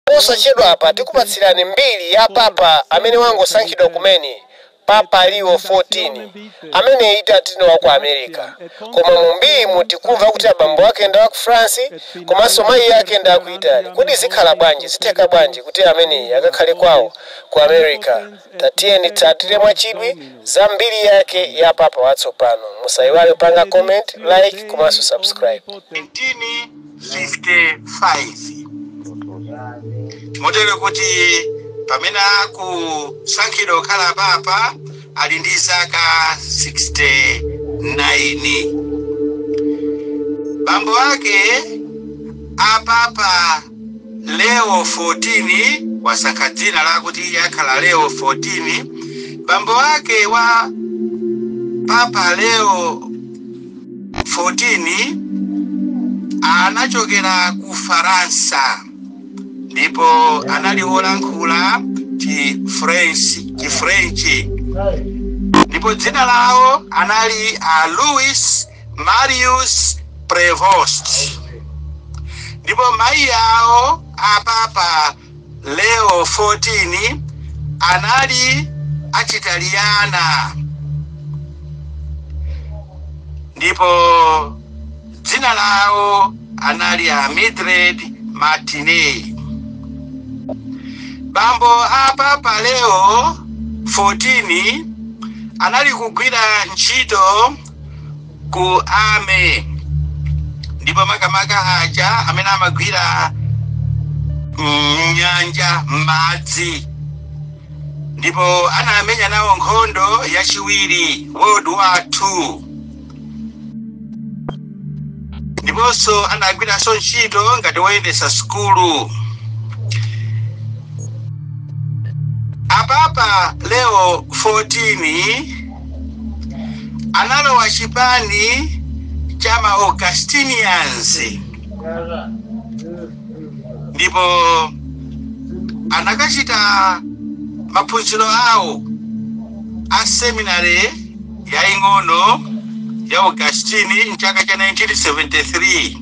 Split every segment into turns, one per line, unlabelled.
Posachedwapa tikupatsirani mbiri ya papa amene wangosankhidwa kumene, Papa Leo 14, ameneyi tati ndi wa ku America. Koma mu mbirimu tikumva kuti abambo ake ndi a ku France komanso mayi ake ndi a ku Italy. Kodi zikhala bwanji, zitheka bwanji kuti ameneyi akakhale kwawo ku America? Tatiyeni titsatire mwachidwi za mbiri yake ya papa watsopano. Musaiwale kupanga comment, like komanso subscribe. 19
55 motero kuti pamene akusankhidwa kukhala papa ali ndi zaka 69 bambo ake a papa leo 14 wasankha dzina lakuti iye akhala leo 14 bambo ake wa papa leo 14 anachokera ku Faransa ndipo anali wolankhula Chifrenchi French ndipo dzina lawo anali a Louis Marius Prevost ndipo mayi awo a Papa Leo 14 anali achitaliyana ndipo dzina lawo anali a Mildred Martinez. Bambo a Papa Leo 14 anali kugwira ntchito ku army ndipo makamaka aja amene amagwira m'nyanja m'madzi ndipo anamenya nawo nkhondo yachiwiri World War Two ndiponso anagwiranso ntchito ngati woyendetsa sukulu a Papa Leo 14 analowa chipani cha ma Augustinians ndipo anakachita maphunziro awo a seminary yaing'ono ya Augustine mchaka cha 1973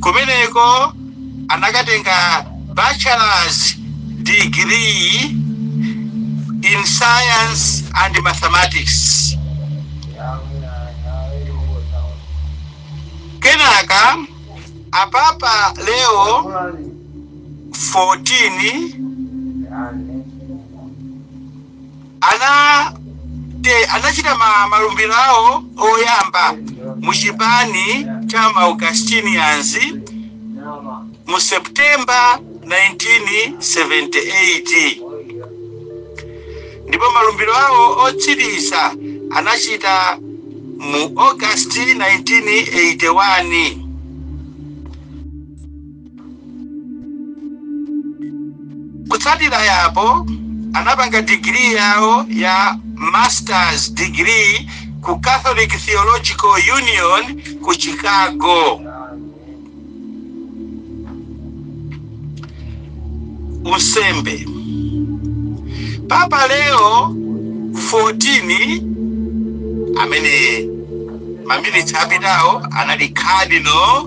kumeneko anakatenga bachelors degree in science and mathematics kenaka apapa leo 14 ana te anachita ma, malumbiro awo oyamba mu chipani cha ma Augustinians mu September 1978 ndipo malumbiro awo otsiriza anachita mu August 1981 kutsatira yapo anapanga degree yawo ya masters degree ku catholic theological union ku chicago unsembe papa leo 14 amene maminitsi apitawo anali cardinal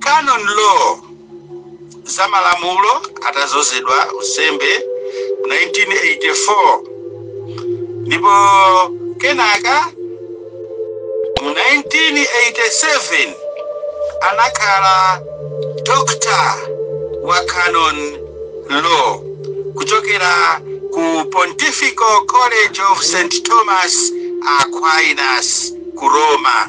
Canon Law, za malamulo, atadzozedwa unsembe 1984 ndipo kenaka mu 1987 anakhala Doctor wa Canon Law kuchokera ku Pontifical College of St. Thomas Aquinas ku Roma.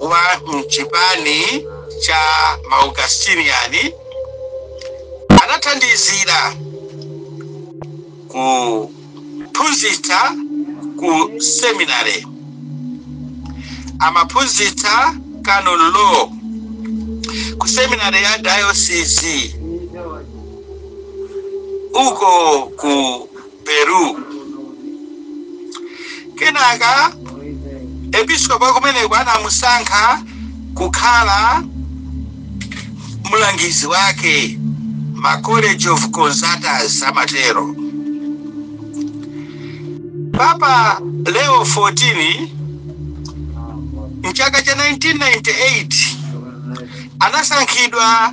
wa m'chipani cha Maaugustinian anathandizira kuphunzitsa ku seminary amaphunzitsa canon law ku seminary ya diocese uko ku Peru. Kenaka episkopi wa kumeneko anamusankha kukhala mlangizi wake ma college of consultors amatero papa leo 14 mchaka cha 1998 anasankhidwa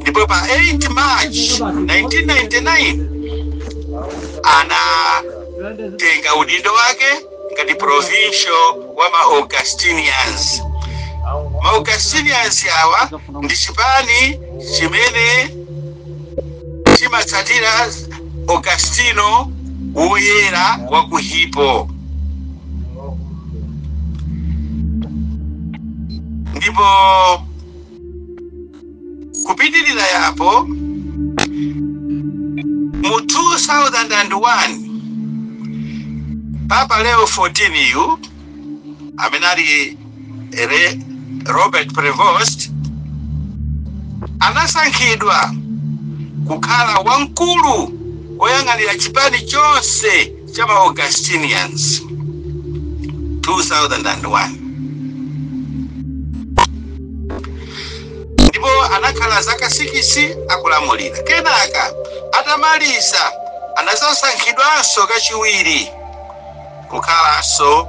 ndipo pa 8 march 1999 anatenga udindo wake ngati provincial wa ma augustinians ma augustinians awa ndi chipani chimene chimatsatira augustino woyera wa ku hippo ndipo kupitirira yapo mu 2001 papa leo 14 yu amene ali robert prevost anasankhidwa kukhala wamkulu woyang'anira chipani chonse cha ma Augustinians 2001 ndipo anakhala zaka sikisi akulamulira kenaka atamaliza anadzasankhidwanso kachiwiri kukhalanso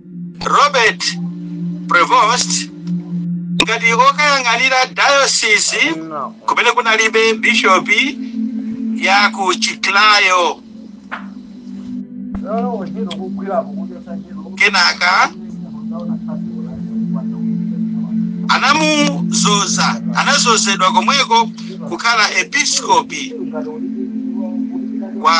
robert prevost ngati okayang'anira dayosisi kumene kunalibe bishopi ya ku chiklayo kenaka anamuzoza anazozedwa komweko kukhala episkopi wa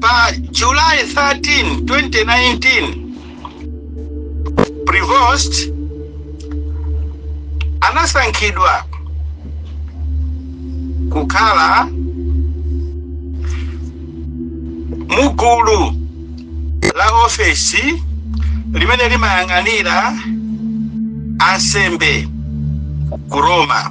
pa July 13, 2019 Prevost anasankhidwa kukhala mugulu la ofesi limene limayang'anira ansembe ku Roma.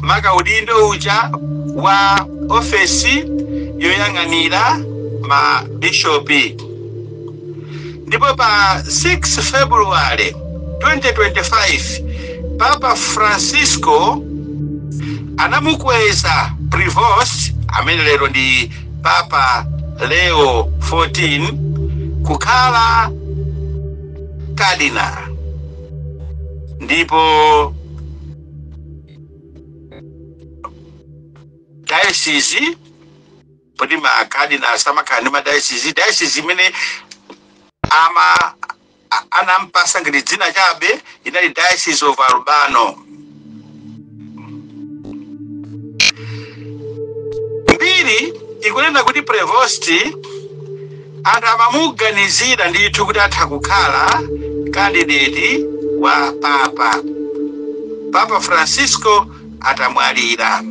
maka udindo uja wa ofesi yoyang'anira ma bishopi ndipo pa 6 february 2025 papa francisco anamukweza prevost amene lero ndi papa leo 14 kukhala kadinala ndipo dayosizi poti makadinali samakhala ndi madayosizi dayosizi imene ama a- anampasa ngati dzina chabe inali diocese of albano mbiri ikunena kuti prevosti anthu amamuganizira ndithu kuti atha kukhala kandideti wa papa papa francisco atamwalira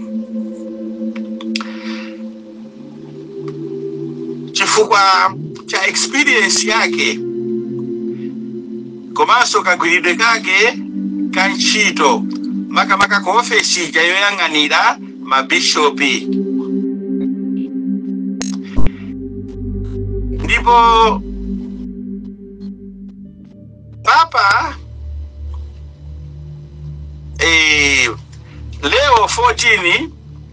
chifukwa cha experience yake komanso kagwiridwe kake ka ntchito makamaka ku ofesi ija yoyang'anira mabishopi ndipo papa eh, leo 14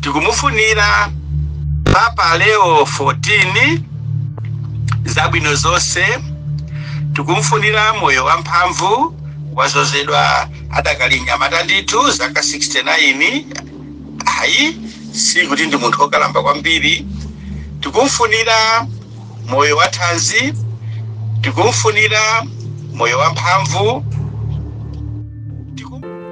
tikumufunira papa leo 14 zabwino zonse tikumfunira moyo wamphamvu wazozedwa adakali nyamata ndithu zaka 69 ayi si kuti ndi munthu wokalamba kwambiri tikumfunira moyo wa thanzi tikumfunira moyo wamphamvu